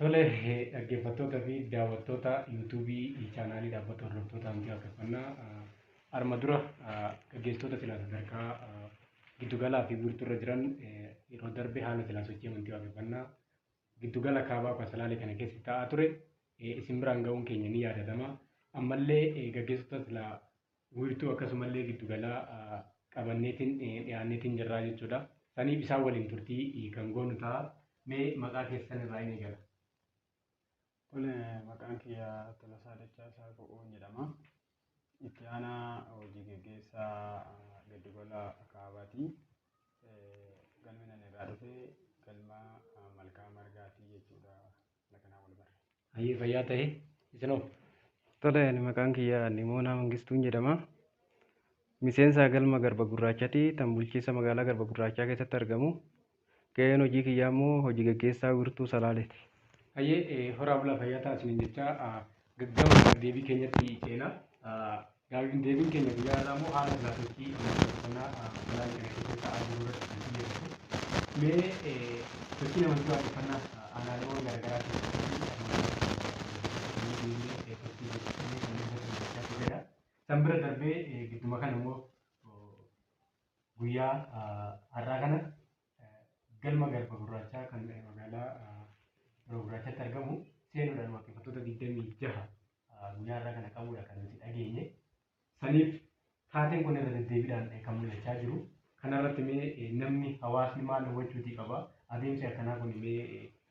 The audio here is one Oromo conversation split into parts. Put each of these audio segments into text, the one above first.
Tole dhaggeeffattoota fi daawwattoota yuutuubii chaanaalii dhaabbata hordoftoota amantii waaqeffannaa arma dura gaggeessitoota silaa sadarkaa giddugalaa fi wiirtuu irra jiran yeroo darbe haala silaa sochii amantii waaqeffannaa giddugala kaabaa kasalaalee kana keessa taa'aa ture isin biraan ga'uun keenya ni yaadatama. Ammallee gaggeessitoota silaa wiirtuu akkasumallee giddugalaa qabanneetiin dhiyaanneetiin jirraa jechuudha. Saniif isaan waliin turtii kan goonu ta'a. Mee maqaa keessan irraa hin eegala. Kun maqaan kiyya Tolasaa Dachaasaa Bo'oon jedhama. Itti aanaa hojii geggeessaa giddugala kaabaati. Galmi nan irraa dhufe galma malkaa margaati jechuudha. Hayyee fayyaa ta'e isinoo. Tole ani maqaan kiyya Nimoonaa Mangistuun jedhama. Miseensa galma Garba Gurraachati tan bulchiinsa magaalaa Garba Gurraachaa keessatti argamu. Ga'een hojii kiyyaa immoo hojii gaggeessaa wiirtuu Salaaleeti. Hayyee horaa bulaa fayyaa ta'aa isiniin jechaa Gama gaafdeebii keenyatti ceena. Gaafdeebiin keenya guyyaa har'aa immoo haala giraafeetii uffannaa magaalaa kana keessatti ta'aa jiru irratti kan xiyyeeffatu. Mee sochii namoota waaqeffannaa aanaaleewwan garaagaraa keessatti san bira darbee gidduma kana immoo guyyaa har'aa kana Galma Garba Gurraachaa kan magaalaa Garba Gurraachaatti argamu seenuudhaan waaqeffattoota 26 guyyaa har'aa kana qabuudha kan nuti dhageenye. Saniif taateen kun irra deddeebiidhaan kan mul'achaa jiru. Kanarratti mee namni hawaasni maal hubachuutii qaba? Adeemsi akkanaa kun mee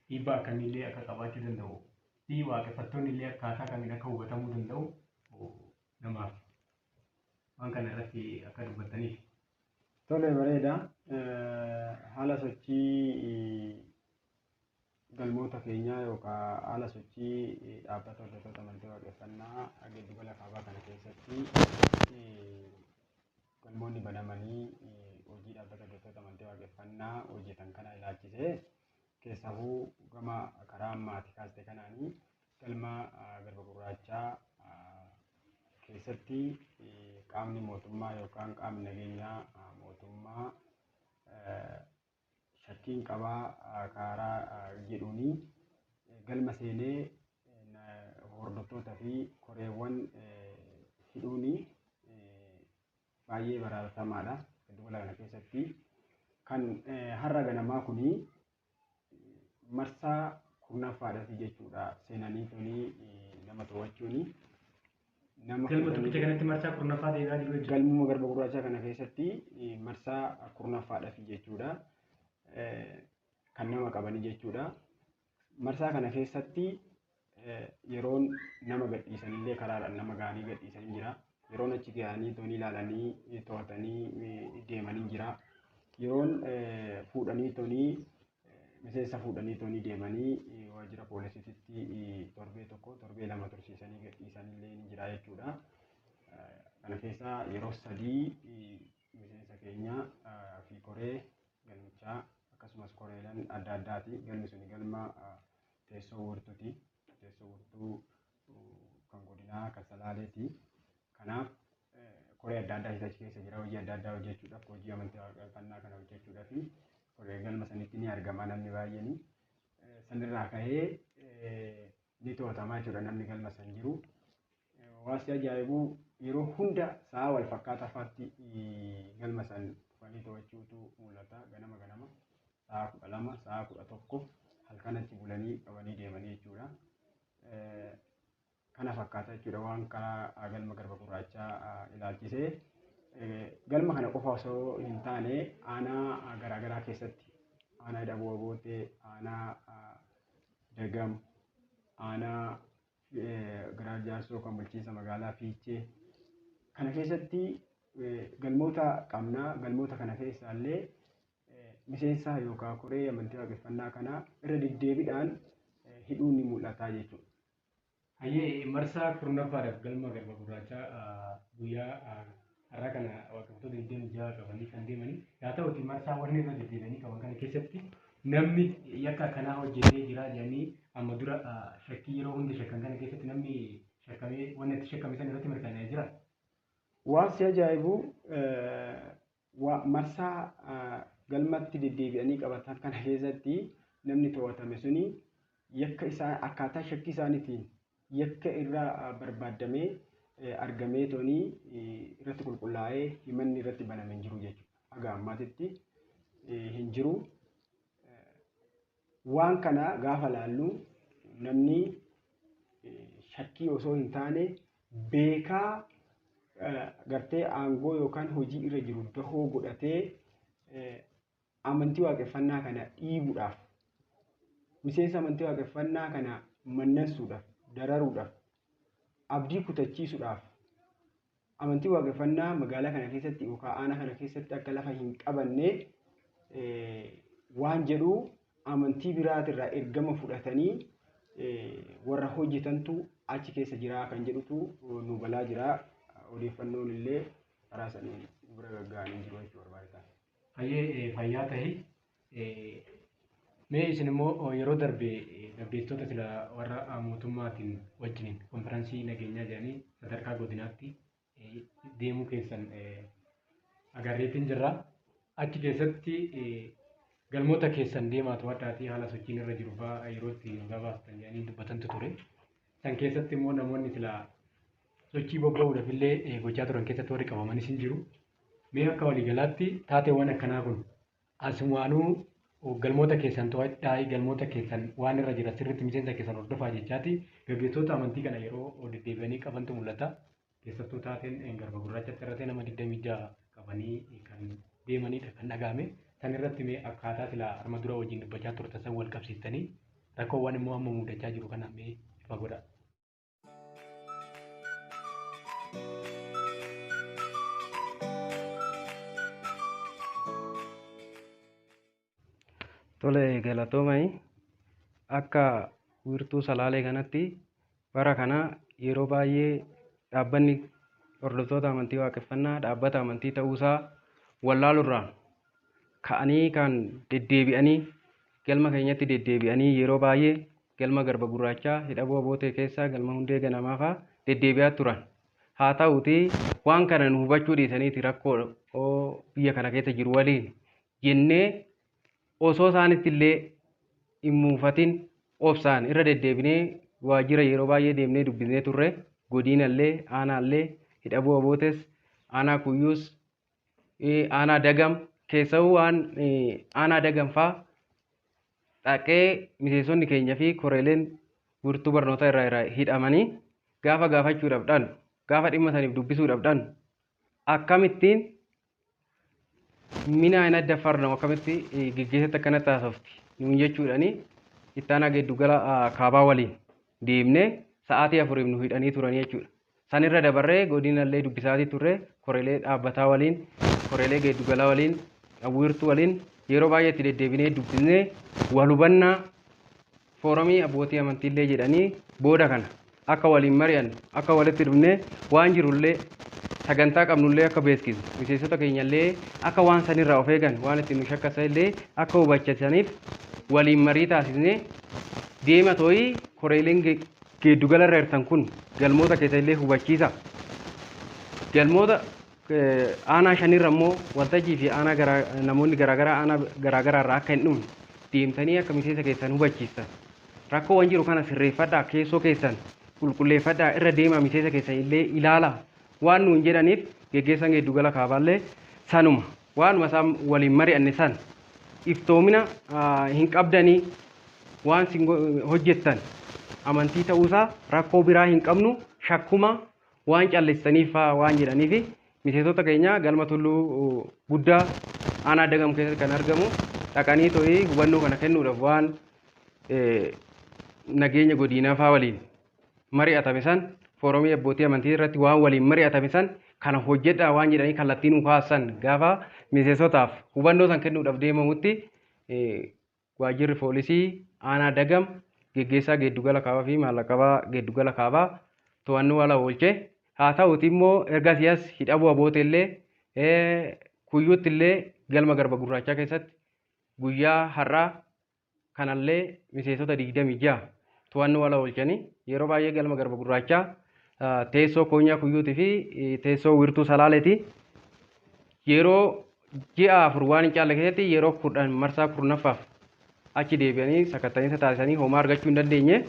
dhiibbaa akkamiillee akka qabaachuu danda'u fi waaqeffattoonni illee akkaataa kamiin akka hubatamuu danda'u namaaf waan kana irratti akka dubbattaniif. Tole bareeda. Haala sochii galmoota keenyaa yookaan haala sochii dhaabbata hordoftoota amantii waaqeffannaa giddu gala kaabaa kana keessatti galmoonni banamanii hojii dhaabbata hordoftoota amantii waaqeffannaa hojjetan kana ilaalchisee keessahuu gama karaa ammaati kaaste kanaanii Galma Garba Gurraachaa keessatti qaamni mootummaa yookaan qaamni nageenyaa mootummaa shakkiin qabaa kaaraa jedhuun galma seenee hordoftoota fi koreewwan hidhuun baay'ee baraarfamaadha. Giddu gala kana keessatti kan har'a ganamaa kun marsaa kurnaffaadhafi jechuudha seenanii tuni nama to'achuuni. Nama Galma kudhanii- tokkicha kanatti marsaa kurnaffaa deebi'aa jiru jechuudha. galmuma garba gurraachaa kana keessatti eh, marsaa kurnaffaadhafi jechuudha eh, kan nama qabanii jechuudha. Marsaa kana keessatti yeroon nama gadhiisanillee karaadhaan nama ga'anii gadhiisan hin jira. Yeroon achi ga'anii toonii ilaalanii to'atanii deeman hin jira. Yeroon fuudhanii toonii miseensa fuudhanii toonii deemanii waajjira poolisiititti torbee tokko torbee lama tursiisanii gadhiisanillee hin jira jechuudha. Kana keessaa yeroo sadii miseensa keenya fi koree galmichaa akkasumas koreeleen adda addaati galmi suni galma Teessoo Wiirtuuti. Teessoo Wiirtuu kan godinaa kan Salaaleeti. Kanaaf koree adda addaa achi keessa jira. Hojii adda addaa hojjechuudhaaf hojii amantii waaqeffannaa kana hojjechuudhaaf koree galma sanitti ni argama namni baay'een. Sanirraa ka'ee ni to'atama jechuudha namni galma san jiru. Waanti ajaa'ibu yeroo hunda sa'a wal fakkaataa faatti galma san dhufanii to'achuutu mul'ata ganama ganama. sa'a 12 sa'a 11 halkan achi bulanii qabanii deemanii jechuudha. Kana fakkaata jechuudha waan karaa galma garba gurraachaa ilaalchisee. Galma kana qofa osoo hin taane aanaa garaagaraa keessatti aanaa Daboo Abootee, aanaa Dagam, aanaa Giraar Jaarsoo kan bulchiinsa magaalaa Fiichee kana keessatti galmoota qabna. Galmoota kana keessaallee miseensa yookaan koree amantii waaqeffannaa kanaa irra deddeebidhaan hidhuun ni mul'ataa jechuudha. Hayyee marsaa kurnaffaadhaf galma garba gurraachaa guyyaa har'aa kana waaqeffattoota 26 qabanii kan deemanii yaa ta'uti marsaa warri irra deddeebi'anii qaban kana keessatti namni yakka akkanaa hojjetee jira jedhanii amma dura shakkii yeroo hunda shakkan kana keessatti namni shakkamee wanni itti shakkame san irratti mirkanaa'ee jira. Waan si ajaa'ibu Wa, Marsaa galmatti deddeebi'anii qabatan kana keessatti namni to'atame suni yakka isaa akkaataa shakkii isaanitiin yakka irra barbaaddamee argameetooni irratti qulqullaa'ee himanni irratti baname hin jiru jechuudha. Haga ammaatitti hin jiru. Waan kana gaafa laallu namni shakkii osoo hin taane beekaa gartee aangoo yookaan hojii irra jiru dahoo godhatee amantii waaqeffannaa kana dhiibuudhaaf miseensa amantii waaqeffannaa kana mannansuudhaaf dararuudhaaf abdii kutachiisuudhaaf Amantiin Waaqeffannaa magaalaa kana keessatti yookaan aanaa kana keessatti akka lafa hin qabanne waan jedhu amantii biraatirraa ergama fudhatanii warra hojjetantu achi keessa jira kan jedhutu nu galaa jira. Odeeffannoon illee karaa saniin nu bira gagga'anii jiru jechuu barbaada. Hayyee fayyaa tahi. Mee isin immoo yeroo darbe gaggeessitoota sila warra mootummaatiin wajjiniin konfiraansii nageenyaa jedhanii sadarkaa godinaatti deemuu keessan agarreetiin jirra. Achi keessatti galmoota keessan deemaa to'adhaatii haala sochiin irra jiru fa'aa yeroo itti nu gabaastan jedhanii dubbatantu ture. San keessatti immoo namoonni sila sochii bobba'uudhaaf illee gochaa turan keessatti warri qabamanis hin jiru. Mee akka waliigalaatti taateewwan akkanaa kun Asumaanuu galmoota keessan to'adhaayi, galmoota keessan waan irra jira sirritti miseensa keessan hordofaa jechaati. Gaggeessoota amantii kana yeroo deddeebi'anii qabantu mul'ata. Keessattuu taateen garba gurraachatti irratee nama 26 qabanii kan deemanidha kan dhaga'ame. San irratti mee akkaataa sila arma dura wajjin dubbachaa turtan san wal qabsiistanii rakkoowwan immoo amma muudachaa jiru kana mee ifa godhaa. Tole galatoomai akka wiirtuu salaalee kanatti bara kana yeroo baay'ee dhaabbanni hordoftoota amantii waaqeffannaa dhaabbata amantii ta'uusaa wallaalurraa ka'anii kan deddeebi'anii galma keenyatti deddeebi'anii yeroo baay'ee Galma Garba Gurraachaa, Hidha Bu'a Bootee keessaa Galma Hundee Ganamaa faa deddeebi'aa turan. Haa ta'uutii waan kana nu hubachuu dhiisaniiti rakkoo biyya kana keessa jiru waliin jennee osoo isaanitti illee hin muufatin obsaan irra deddeebinee waajjira yeroo baay'ee deemnee dubbisnee turre. Godiina illee, aanaa illee, Hidha Bu'a Bootes, aanaa Kuyyuus, aanaa dagam keessawuu waan aanaa dagam faa dhaqee miseensonni keenya fi koreeleen wirtuu barnootaa irraa irraa hidhamanii gaafa gaafachuu dhabdhan gaafa dhimma saniif dubbisuu dhabdhan akkamittiin minaa hin adda farnamu akkamitti geggeessatti akkana taasofti nuun jechuudhani ittaanaa geeddugala kaabaa waliin deemnee sa'aatii afuriif nu hidhanii turanii jechuudha. San irra dabarree godinallee dubbisaatii turre, koreelee dhaabbataa waliin, koreelee geeddugalaa waliin, wiirtuu waliin yeroo baay'ee itti deddeebinee dubbisnee wal hubanna. Fooromii abbootii amantiillee jedhanii booda kana akka waliin mari'annu, akka walitti dhufnee waan jirullee sagantaa qabnullee akka beeksisnu, miseensota keenyallee akka waan sanirraa of eegan, waan itti nu shakkasanillee akka hubachisaniif waliin marii taasisnee deema too'ii koreeleen geeddugala irra hirtan kun galmoota keessa illee hubachiisa. Galmoota aanaa shanirra immoo waltajjii fi aanaa garaa namoonni garaagaraa aanaa garaagaraa irraa akka hin dhumne deemtanii akka miseensa keessan hubachiistan. Rakkoowwan jiru kana sirreeffadhaa keessoo keessan qulqulleeffadhaa irra deemaa miseensa keessan illee ilaalaa waan nuun jedhaniif geggeessaan geeddugala kaabaallee sanuma. Waanuma isaan waliin mari'anne sana iftoomina hin qabdanii waan isin hojjettan amantii ta'uusaa rakkoo biraa hin qabnu shakkuma waan callistaniif fa'aa waan jedhaniifi miseensota keenya galma tulluu guddaa aanaa dagam keessatti kan argamu dhaqanii to'ii hubannoo kana kennuudhaaf waan nageenya godiinaa fa'aa waliin mari'atame san fooromii abbootii amantii irratti waan waliin mari'atame san kana hojjedhaa waan jedhanii kallattii nuu kaassan gaafa miseensotaaf hubannoo san kennuudhaaf deemamutti waajjirri poolisii aanaa dagam geggeessaa geeddugala kaabaa fi maallaqabaa geeddugala kaabaa to'annoo ala oolche haa ta'uti immoo erga siyaas hidhabuu aboote illee kuyyuutti illee galma garba gurraachaa keessatti guyyaa har'aa kanallee miseensota 26 to'annoo ala oolchani. Yeroo baay'ee galma Garba Gurraachaa teessoo Koonyaa Kuyyuuti fi teessoo Wirtuu Salaaleeti. Yeroo ji'a afur waan hin caalle keessatti yeroo kudhan marsaa kurnaffaaf achi deebi'anii sakatta'iinsa taasisanii homaa argachuu hin dandeenye.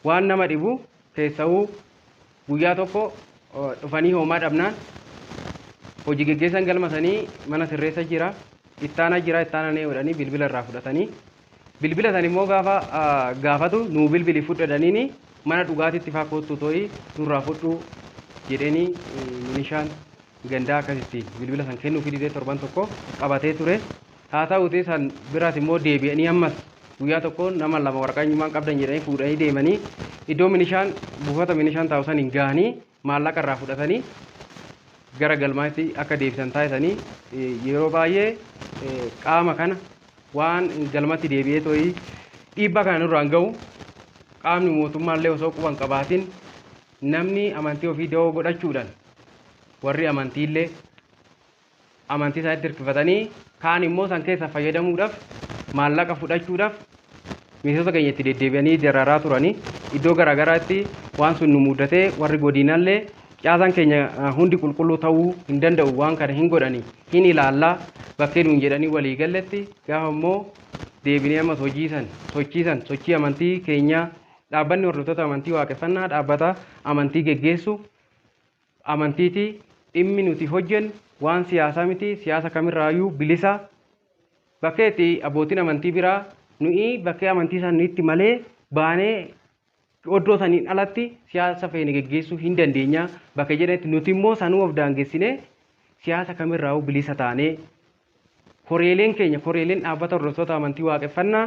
Waan nama dhibu keessa'uu Guyyaa tokko dhufanii hoomaa dhabnaan hoji geggeessan galma sanii mana sirreessa jira ittaana jira ittaana nee jedhanii bilbila irraa fudhatanii bilbila san immoo gaafa gaafatu nuu bilbili fudhadhaniini mana dhugaatitti faa koottuu too'ii nurraa fudhuu jedheenii milishaan gandaa akkasitti bilbila san kennuufii didee torban tokko qabatee ture. Haa ta'uutii san biraas immoo deebi'anii ammas guyyaa tokko nama lama waraqaa eenyummaa hin qabdan jedhanii fuudhanii deemanii iddoo milishaan buufata milishaan taa'u san hin gahanii maallaqa irraa fudhatanii gara galmaatti akka deebisan taasisanii yeroo baay'ee qaama kana waan galmatti deebi'ee to'ii dhiibbaa kana nurraan ga'u qaamni mootummaallee osoo quban qabaatiin Namni amantii ofii dawoo godhachuudhaan warri amantiillee amantii isaanitti hirkifatanii kaan immoo san keessa fayyadamuudhaaf maallaqa fudhachuudhaaf miseensota keenya itti deddeebi'anii dararaa turanii iddoo garaagaraatti waan sun nu mudatee warri godinallee caasaan keenya hundi qulqulluu ta'uu hin danda'u waan kana hin godhanii hin ilaallaa bakkee nuun jedhanii walii galletti gaafa immoo deebinee ammas hojii san sochii san sochii amantii keenyaa Dhaabbanni hordoftoota amantii waaqeffannaa dhaabbata amantii geggeessu amantiiti. Dhimmi nuti hojjennu waan siyaasaa miti. Siyaasa kamirraayyuu bilisa. Bakkee itti abbootiin amantii biraa nuyi bakkee amantii isaaniitti malee baanee oddoo saniin alatti siyaasa feene geggeessuu hin dandeenya bakka jedhanitti nuti immoo sanuu of daangessinee siyaasa kamirraa'uu bilisa taanee Koreeleen keenya, koreeleen dhaabbata hordoftoota amantii waaqeffannaa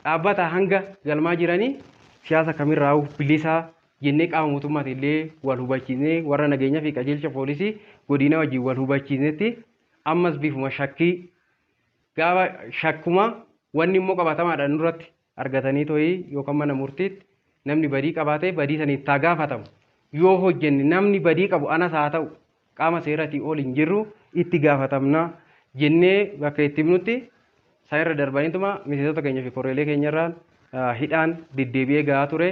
dhaabbataa hanga galmaa jiranii siyaasa kamirraa'uu bilisa jennee qaama mootummaatiin illee wal hubachiisnee warra nageenyaa fi qajeelcha poolisii godinaa wajjin wal hubachiisnetti ammas bifuma shakkii gaafa shakkuma wanni immoo qabatamaadhaan nurratti argatanii tohii yookan mana murtiitti namni badii qabaatee badii saniif taa gaafatamu yoo hojjenne namni badii qabu anas haa ta'u qaama seeratii ol hin jirru itti gaafatamna jennee bakka itti himnutti san irra darbaniituma miseensota keenya fi koreelee keenya irraan hidhaan deddeebi'ee gahaa ture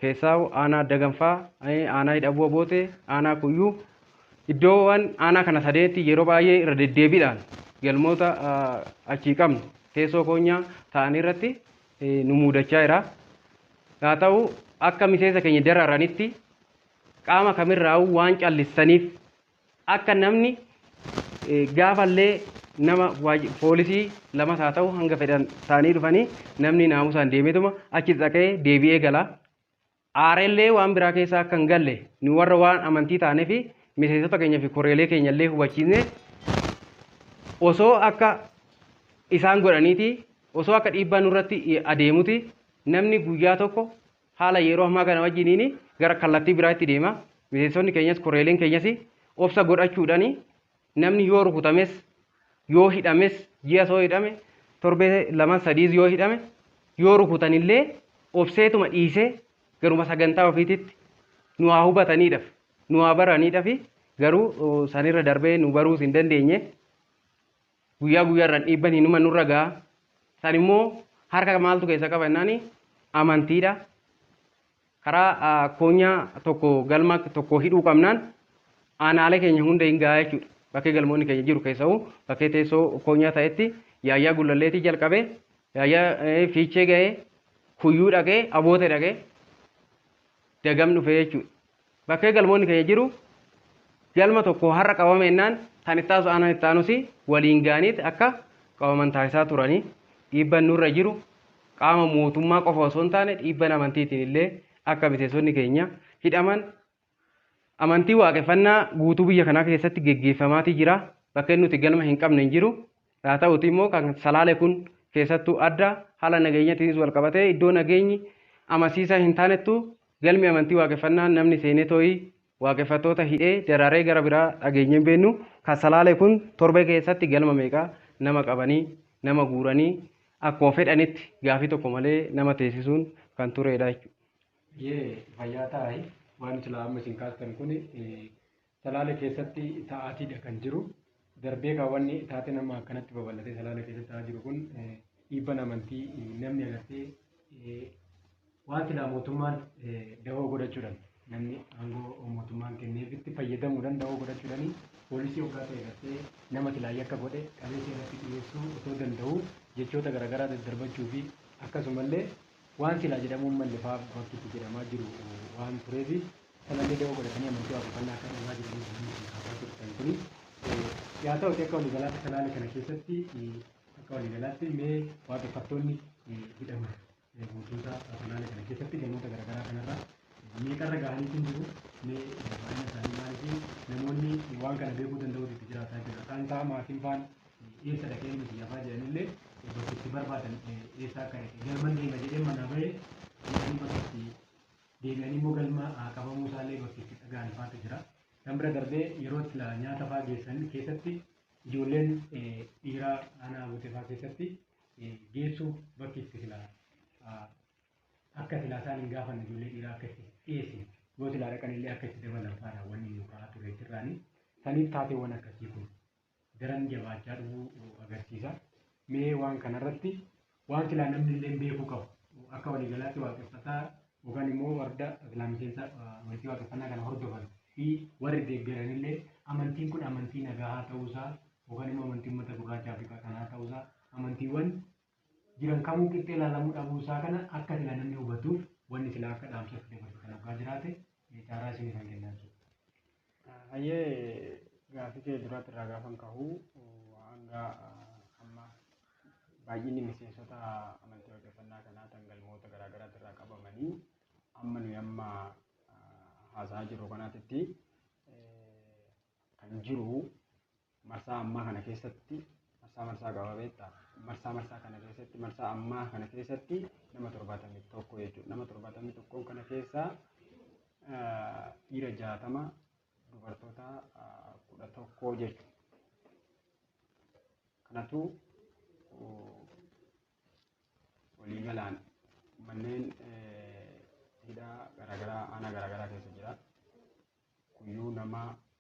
Keessaahuu aanaa Daganfaa, aanaa Hidhabuu Abootee, aanaa Kuyyuu iddoowwan aanaa kana sadeetti yeroo baay'ee irra deddeebiidhaan galmoota achii qabnu teessoo koonyaa ta'anii irratti nu muudachaa jira. Haa ta'u akka miseensa keenya dararanitti qaama kamirraa'uu waan callistaniif Akka namni gaafa illee nama poolisii lamas haa ta'u hanga fedhan ta'anii dhufanii namni naamusaan deemeetuma achi dhaqee deebi'ee gala. Aarellee waan biraa keessaa akka hin galle nu warra waan amantii taanee fi miseensota keenya fi koreelee keenya illee hubachiisne osoo akka isaan godhaniiti osoo akka dhiibbaa nurratti adeemuti namni guyyaa tokko Haala yeroo ammaa kana wajjiniin gara kallattii biraatti deema. Miseensonni keenyas koreeleen keenyas obsa godhachuudhaan namni yoo rukutames yoo hidhames ji'as yoo hidhame torbee laman sadiis yoo hidhame yoo rukutanillee obseetuma dhiisee garuma sagantaa ofiititti nu haa hubataniidhaaf nu haa baraniidhaaf garuu sanirra darbee nu baruus hin dandeenye Guyyaa guyyaarraan dhiibban hinuma nurra ga'a. San immoo harka maaltu keessa qaba jennaani amantiidha. Karaa koonyaa tokko galma tokko hidhuu qabnaan aanaalee keenya hunda hin ga'a jechuudha. Bakkee galmoonni keenya jiru keessa'u bakkee teessoo koonyaa ta'etti yaayyaa gullalleetii jalqabe yaayyaa fiichee ga'ee kuyyuu dhaqee aboote dhaqee dagam dhufe jechuudha. Bakkee galmoonni keenya jiru galma tokko har'a qabame ennaan kan itti aansu aanaan itti aanus waliin ga'aniiti akka qabaman taasisaa turanii dhiibban nurra jiru qaama mootummaa qofa osoo hin taane dhiibban amantiitiin illee akka miseensonni keenya hidhaman amantii waaqeffannaa guutuu biyya kanaa keessatti geggeeffamaatii jira. Bakkeen nuti galma hin qabne hin jiru. Haa ta'uutii immoo kan Salaale kun keessattuu adda haala nageenyatiinis wal qabatee iddoo nageenyi amansiisaa hin taanettu galmi amantii waaqeffannaa namni seenee too'ii waaqeffattoota hidhee daraaree gara biraa dhageenyee hin beennu. Kan Salaale kun torbee keessatti galma meeqa nama qabanii nama guuranii akkuma fedhanitti gaafii tokko malee nama teessisuun kan tureedha jechuudha. Yee fayyaa taa'i waan silaa amma isin kaastan kun Salaale keessatti ta'aatiidha kan jiru. Darbee kaa wanni taateen amma akkanatti babal'atee salaale keessatti ta'aa jiru kun dhiibban amantii namni agartee waan silaa mootummaan dahoo godhachuudhaan namni aangoo mootummaan kenneefitti fayyadamuudhaan dahoo godhachuudhaan poolisii hoggaa ta'e gartee nama silaa yakka godhe qabeessa irratti dhiyeessuu otoo danda'u jechoota garaagaraa daddarbachuu fi akkasumallee Waan silaa jedhamuu hin malle fa'aa bakkitti jedhamaa jiru waan tureef sanallee da'oo godhatanii amantii waaqeffannaa akka dhiibaa jiraniif namoonni kan kaasaa turtan kuni. Yaa ta'uti akka waliigalaatti kanaalee kana keessatti akka waliigalaatti mee waaqeffattoonni hidhaman guutuusaa kanaalee kana keessatti gamoota garaagaraa kanarra meeqarra gahanii hin jiru mee baay'ina isaanii maaliif namoonni waan kana beekuu danda'uutu itti jiraataa jira. Kaan isaa maatiin faan Eessadha ka'ee nuti yaafaa jedhanillee bakka itti barbaadan eessaa akka dhaqe galman deema jedhee manaa ba'e jedhanii bakka itti deebi'anii immoo galma qabamuu isaallee bakka itti dhaga'an faatu jira. Kan bira darbee yeroo sila nyaata faa geessan keessatti ijoolleen dhiiraa aanaa Abuutee faa keessatti geessuu bakki itti sila akka sila isaan hin gaafanne ijoollee dhiiraa akka itti dhiyeessin yoo sila dhaqanillee akka itti dabalan faadha wanni nu ka'aa ture jirraanii saniif taateewwan akkasii kun daran jabaachaa dhufuu agarsiisa. Mee waan kanarratti waan silaa namni illee beekuu qabu akka waliigalaatti waaqeffataa yookaan immoo warda silaa miseensa walitti waaqeffannaa kana hordofan fi warri deeggaran illee amantiin kun amantii nagahaa ta'uusaa yookaan immoo amantii uummata gurraacha Afrikaa kanaa ta'uusaa amantiiwwan jiran kamuu qixxee ilaalamuu dhabuu isaa kana akka silaa namni hubatuuf wanni silaa akka dhaamsa itti dabarsu kan hoggaa jiraate caaraa isinii kan kennaa jechuudha. Hayyee gaafii kee duraatti irraa gaafan kahu hanga amma baay'inni miseensota amantii waaqeffannaa kanaa kan galmoota garaa garaatti irraa qabamanii amma nuyi amma haasa'aa jirru kanaatitti kan jiru Marsaa ammaa kana keessatti marsaa marsaa qaba beektaa? Marsaa marsaa kana keessatti marsaa ammaa kana keessatti nama torbaatamii tokko jechuudha. Nama torbaatamii tokkoon kana keessaa dhiira jaatama dubartoota kudha tokkoo jechuudha. Kanatu waliigalaan manneen hidhaa garaagaraa aanaa garaagaraa keessa jira. Kuyyuu nama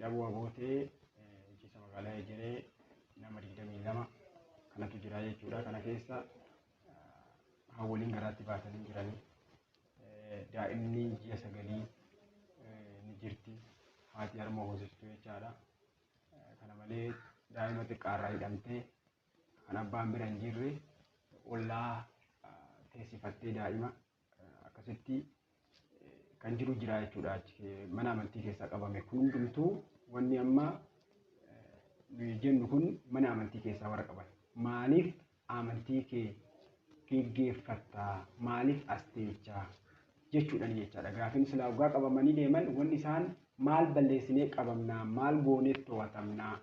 Daboo Abootee bulchiinsa magaalaa Ejeree nama 22 kanatu jira jechuudha. Kana keessa haawwoliin garaatti baatanii jiranii daa'imni ji'a sagalii ni jirti haati harma hoosiftuu jechaadha. Kana malee daa'ima xiqqaarraa hidhamtee kan abbaan bira hin jirre ollaa teessifattee daa'ima akkasitti kan jiru jira jechuudha. Mana amantii keessaa qabame kun hundumtuu wanni amma nuyi jennu kun mana amantii keessaa warra qaban. Maaliif amantii kee geggeeffatta? Maaliif as teecha? jechuudhaan jechaadha. Gaafiin silaa waggaa qabamanii deeman wanni isaan maal balleessinee qabamnaa? Maal gooneef to'atamnaa?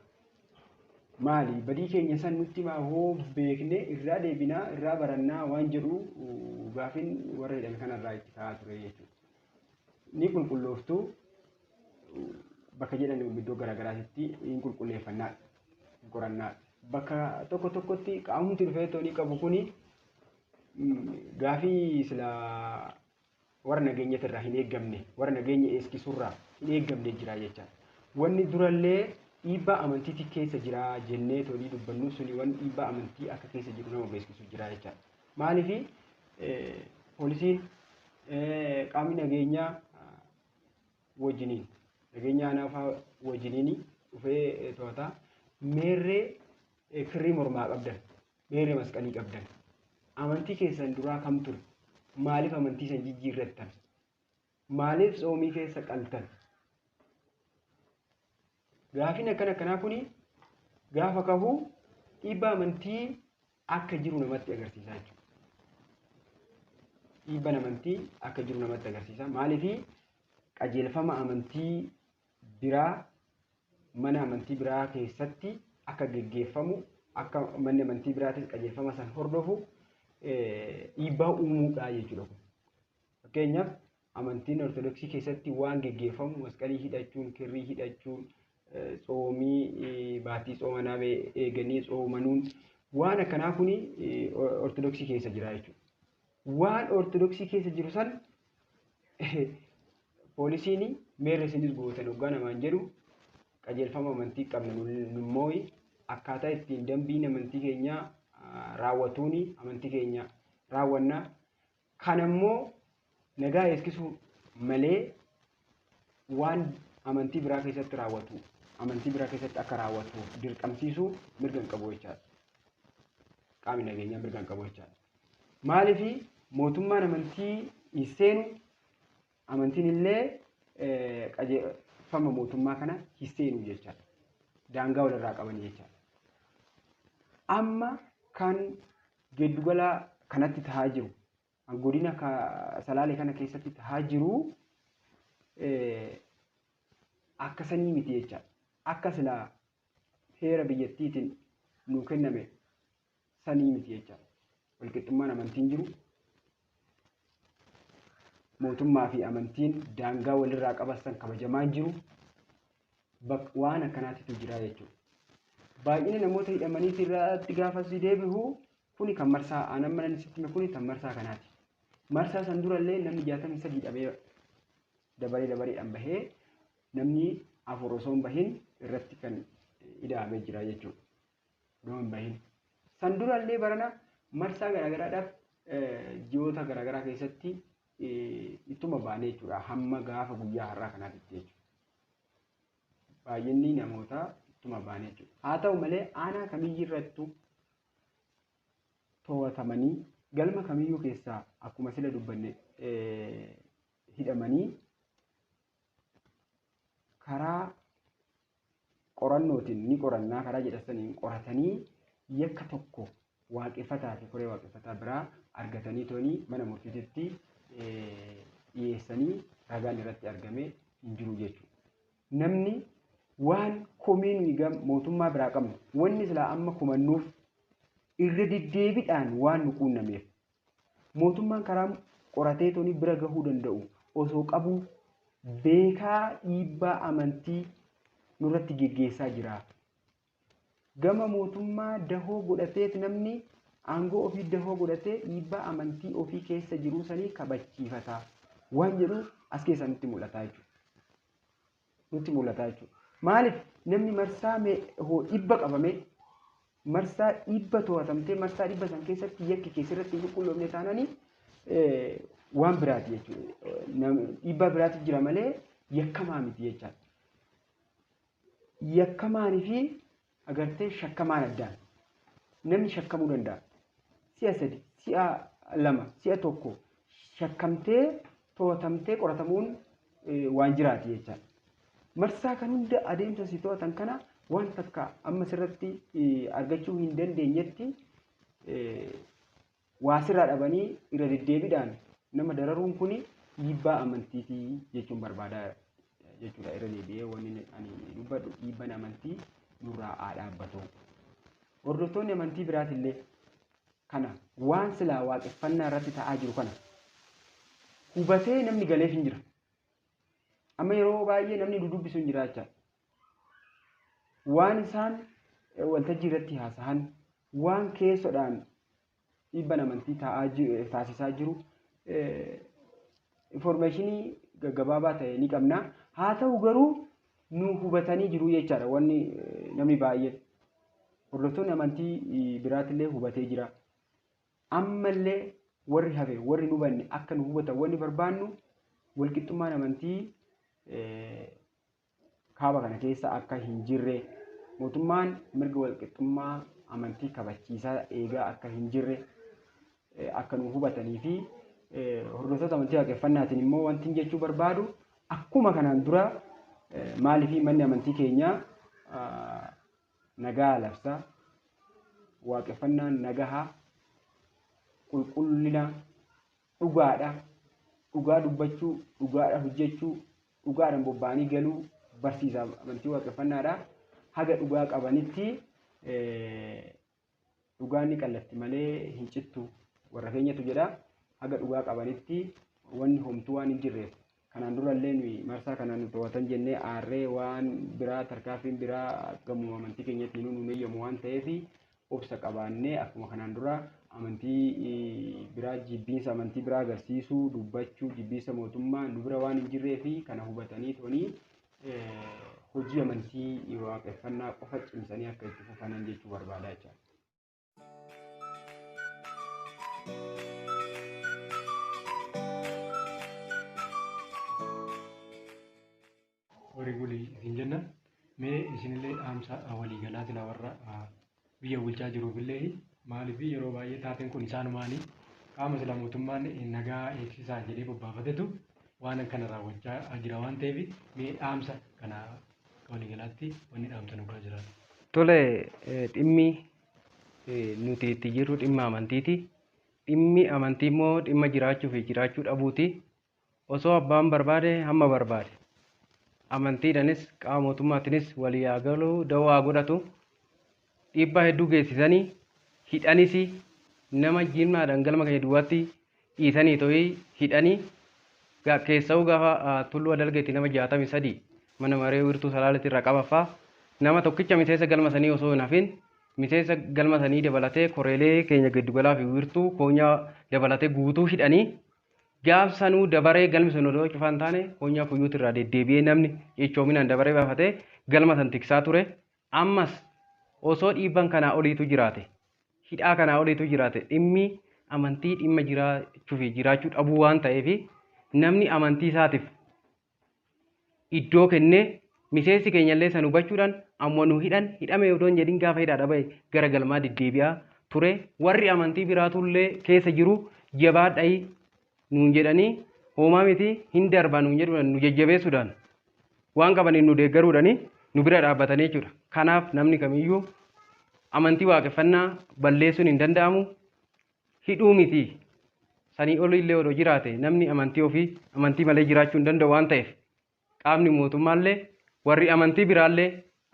Maali? Badii keenya san nutti himaa hoo beekne irraa deebinaa, irraa barannaa waan jedhu gaafin warra hidhame kanarraa itti ka'aa ture jechuudha. Ni qulqullooftu bakka jedhan iddoo garaagaraatitti hin qulqulleeffannaa, hin qorannaa. Bakka tokko tokkotti qaamumti dhufee toonii qabu kuni gaafii sila warra nageenyatirraa hin eeggamne, warra nageenya eegsisuurraa hin eeggamne jira jecha. Wanni durallee dhiibbaa amantiitii keessa jira jennee tolii dubbannu suni wanni dhiibbaa amantii akka keessa jiru nama beeksisu jira jecha. Maaliif poolisiin qaamni nageenyaa wajjiniin nageenya aanaafaa wajjiniin dhufee to'ataa meerree kirrii mormaa qabdan Meerre masqalii qabdan amantii keessan duraa kam ture? Maaliif amantii san jijjiirrattan? Maaliif tsoomii keessa qaltan? Gaafiin akkana akkanaa kuni gaafa kahu dhiibbaa amantii akka jiru namatti agarsiisaa jechuudha. Dhiibbaa amantii akka jiru namatti agarsiisa. Maaliif qajeelfama amantii biraa mana amantii biraa keessatti akka geggeeffamu akka manni amantii biraatis qajeelfama san hordofu dhiibbaa uumuudha jechuudha kun. Fakkeenyaaf amantiin ortodoksii keessatti waan geggeeffamu masqalii hidhachuun, kirrii hidhachuun, tsoomii baatii tsooma naabee eeganii tsoomanuun waan akkanaa kuni ortodoksii keessa jira jechuudha. Waan ortodoksii keessa jiru san Poolisiin meerre isinis gootan oggaa namaan jedhu qajeelfama amantii qabna nummoo akkaataa ittiin dambiin amantii keenyaa raawwatuun amantii keenya raawwanna. Kana immoo nagaa eegsisuu malee waan amantii biraa keessatti raawwatu amantii biraa keessatti akka raawwatu dirqamsiisuu mirga hin qabu jechaadha. Qaamni nageenyaa mirga hin qabu jechaadha. Maaliif mootummaan amantii hin seenu Amantiin illee qajeelfama mootummaa kana hin seenu jechaadha. Daangaa walirraa qaban jechaadha. Amma kan giddugala kanatti tahaa jiru, godina salaalee kana keessatti tahaa jiru akka sanii miti jechaadha. Akka silaa heera biyyattiitiin nuu kenname sanii miti jecha walqixxummaan amantiin jiru mootummaa fi amantiin daangaa walirraa qabasan kabajamaa hin jiru Bak- waan akkanaatitu jira jechuudha. Baay'ina namoota hidhamanii irratti gaafa si deebi'u kuni kan marsaa aanan mana sitti kuni kan marsaa kanaati. Marsaa san durallee namni jaatamni sadii dhabee dabaree dabareedhaan bahee namni afur osoo hin bahin irratti kan hidhamee jira jechuudha. odoo hin bahin. San dura illee barana marsaa garaagaraadhaaf ji'oota garaagaraa keessatti ittuma baanee jechuudha. Hamma gaafa guyyaa har'aa kanaatitti jechuudha. Baay'inni namootaa ittuma baanee jechuudha. Haa ta'u malee aanaa kamiyyuu irrattuu to'atamanii galma kamiyyuu keessaa akkuma sila dubbanne hidhamanii karaa qorannootiin ni qorannaa karaa jedhassaniin qoratanii yakka tokko waaqeffataa fi koree waaqeffataa biraa argatanii tooni mana murtiititti dhiyeessanii ragaan irratti argame hin jiru jechuudha. Namni waan komii nuyi gam mootummaa biraa qabnu wanni silaa amma komannuuf irra deddeebidhaan waan nu quunnameef Mootummaan karaa qorateetoni bira gahuu danda'u osoo qabuu beekaa dhiibbaa amantii nurratti geggeessaa jira. Gama mootummaa dahoo godhateet namni aangoo ofii dahoo godhatee dhiibbaa amantii ofii keessa jiruu sanii kabachiifata waan jedhu as keessaa nutti mul'ataa jechuudha. nutti mul'ata jechuudha. Maaliif namni marsaa dhibba qabamee marsaa dhibba to'atamtee marsaa dhibba san keessatti yakki keessa irratti hin qulqulloofne taananii waan biraati jechuudha. Dhiibbaa biraatu jira malee yakkamaa miti jechaadha. Yakkamaan fi agartee shakkamaan addaan namni shakkamuu danda'a. Si'a sadi, si'a lama, si'a tokko shakkamtee to'atamtee qoratamuun waan jiraati jechaadha. Marsaa kan hunda adeemsa si to'atan kana waan takka amma sirratti argachuu hin dandeenyetti waa sirraa dhabanii irra deddeebiidhaan nama dararuun kun dhiibbaa amantiiti jechuun barbaada jechuudha irra deebi'ee wanni ani dubbadhu dhiibbaan amantii nurraa haa dhaabbatu. Hordoftoonni amantii biraatillee kana waan silaa waaqeffannaa irratti ta'aa jiru kana hubatee namni galeef hin jira. Amma yeroo baay'ee namni dudubbisu hin jira jecha waan isaan waltajjii irratti haasahan waan keessodhaan dhiibban amantii taasisaa jiru informeeshinii gaggabaabaa ta'e ni qabna. Haa ta'u garuu nu hubatanii jiru jechaadha wanni namni baay'een. Hordoftoonni amantii biraatillee hubatee jira. Ammallee warri hafe warri nu hubanne akka nu hubatan wanni barbaannu walqixxummaan amantii kaaba kana keessa akka hin jirre, mootummaan mirga walqixxummaa amantii kabachiisaa eegaa akka hin jirre akka nu hubatanii fi hordoftoota amantii waaqeffannaatiin immoo wanti jechuu barbaadu akkuma kanaan dura maaliif manni amantii keenyaa nagaa labsa waaqeffannaan nagaha qulqullina dhugaadha dhugaa dubbachuu dhugaadha hojjechuu dhugaadhaan bobba'anii galuu barsiisa amantii waaqeffannaadha. Haga dhugaa qabanitti dhugaan ni qallatti malee hin cittu warra keenyatu jedha. Haga dhugaa qabanitti wanni homtuu waan hin jirreef kanaan durallee nuyi marsaa kanaan nu to'atan jennee aarree waan biraa tarkaanfiin biraa gamoo amantii keenyatti nu hin eeyyamu waan ta'eef obsa qabaannee akkuma kanaan duraa amantii biraa jibbiinsa amantii biraa agarsiisuu, dubbachuu, jibbiinsa mootummaa nu bira waan hin jirree fi kana hubatanii toonii hojii amantii waaqeffannaa qofa cimsanii akka itti fufanan jechuu barbaadaa jechaadha. Horii buli isin jenna. Mee isinillee dhaamsa walii galaa silaa warra biyya bulchaa jiruufillee maaliif yeroo baay'ee taateen kun isaanumaanii qaama sila mootummaan nagaa eegsisaa jedhee bobbaafatetu waan akkana raawwachaa jira waan ta'eef mee dhaamsa kana akka walii galaatti wanni dhaamsa nu biraa jiraatu. Tole dhimmi nuti itti jirru dhimma amantiiti. Dhimmi amantii immoo dhimma jiraachuu fi jiraachuu dhabuuti. Osoo abbaan barbaade hamma barbaade. Amantiidhanis qaama mootummaatinis walii haa galu dawoo haa godhatu dhiibbaa hedduu geessisanii hidhanisi nama jimlaadhaan galma keenya duwwaatti dhiisanii to'ii hidhanii ga- keessa'uu gaafa ah, tulluu adalgeetti nama 63 mana maree wiirtuu salaaletti irraa qabaffaa nama tokkicha miseensa galma sanii osoo hin hafin miseensa galma sanii dabalatee koreelee keenya giddugalaa fi wiirtuu koonyaa dabalatee guutuu hidhanii Gaaf sanuu dabaree galmi sun odoo cufaa hin taane Konyaa Kuyyuutti irraa deddeebi'ee namni cichoominaan dabaree baafatee galma san tiksaa ture. Ammas osoo dhiibbaan kanaa oliitu jiraate, hidhaa kanaa oliitu jiraate dhimmi amantii dhimma jiraachuu fi jiraachuu dhabuu waan ta'eef namni amantii isaatif iddoo kennee miseensi keenyallee san hubachuudhaan amma nu hidhan hidhame odoo hin jedhin gaafa hidhaadha bahe gara galmaa deddeebi'aa ture warri amantii biraatullee keessa jiru jabaadhayi nuun jedhanii hoomaa miti hin darba nuun jedhuudhaan nu jajjabeessuudhaan waan qabaniin nu deeggaruudhani nu bira dhaabbatanii jechuudha. Kanaaf namni kamiyyuu amantii waaqeffannaa balleessuun hin danda'amu. hidhuu miti. Sanii oli illee odoo jiraate namni amantii ofii amantii malee jiraachuu hin danda'u waan ta'eef qaamni mootummaa illee warri amantii biraa illee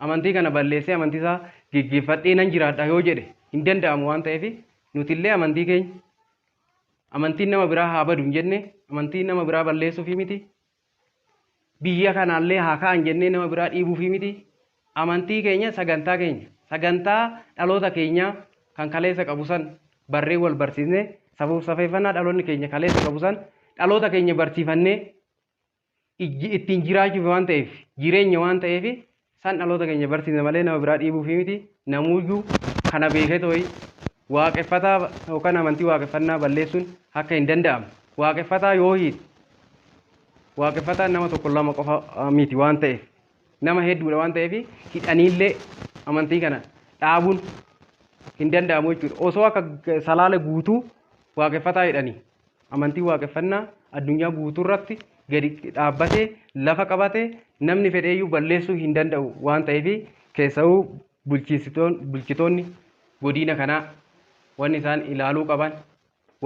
amantii kana balleessee amantii isaa geggeeffadhee nan jiraadha yoo jedhe hin danda'amu waan ta'eef nuti illee amantii keenya amantiin nama biraa haa badu hin jenne amantii nama biraa balleessuufii miti Biyya kanaallee haa ka'an jennee nama biraa dhiibuufii miti. Amantii keenya, sagantaa keenya, sagantaa dhaloota keenyaa kan kaleessa qabu san barree wal barsiisne, safuuf safeeffannaa dhaloonni keenya kaleessa qabu san dhaloota keenya barsiifannee ijji- ittiin jiraachuuf waan ta'eef, jireenya waan ta'eef San dhaloota keenya barsiifna malee nama biraa dhiibuufii miti. Namuuyyuu kana beeketooyi waaqeffataa yookaan amantii waaqeffannaa balleessuun akka hin danda'amne. Waaqeffataa yoo hiite waaqeffataan nama tokko lama qofa miti waan ta'eef nama hedduudha waan ta'eef hidhaniillee amantii kana dhaabuun hin danda'amu jechuudha. Osoo akka salaale guutuu waaqeffataa hidhanii Amantiin Waaqeffannaa addunyaa guutuurratti gadi dhaabbatee lafa qabate namni fedheeyyuu balleessuu hin danda'u waan ta'eef keessa'uu bulchitoonni godiina kanaa wanni isaan ilaaluu qaban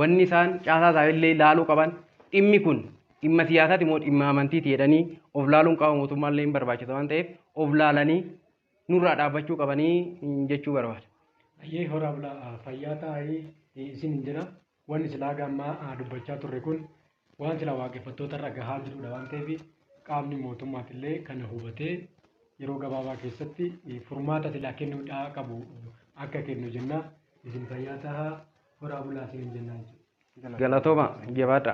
wanni isaan caasaa isaanillee ilaaluu qaban dhimmi kun dhimma siyaasaati moo dhimma amantiiti jedhanii of laaluun qaama mootummaallee hin barbaachisa waan ta'eef of laalanii nurraa dhaabbachuu qabanii jechuu barbaada. Ayyee horaa bulaa fayyaa taa'ee isin hin jira. Wanni silaa haga ammaa dubbachaa turre kun waan silaa waaqeffattoota irra gahaa jirudha waan ta'eef qaamni mootummaas illee kana hubatee yeroo gabaabaa keessatti furmaata silaa kennuudhaa qabu akka kennu jenna. Isin fayyaa tahaa horaa bulaa isiniin jennaa jechuudha. Galatooma jabaadha.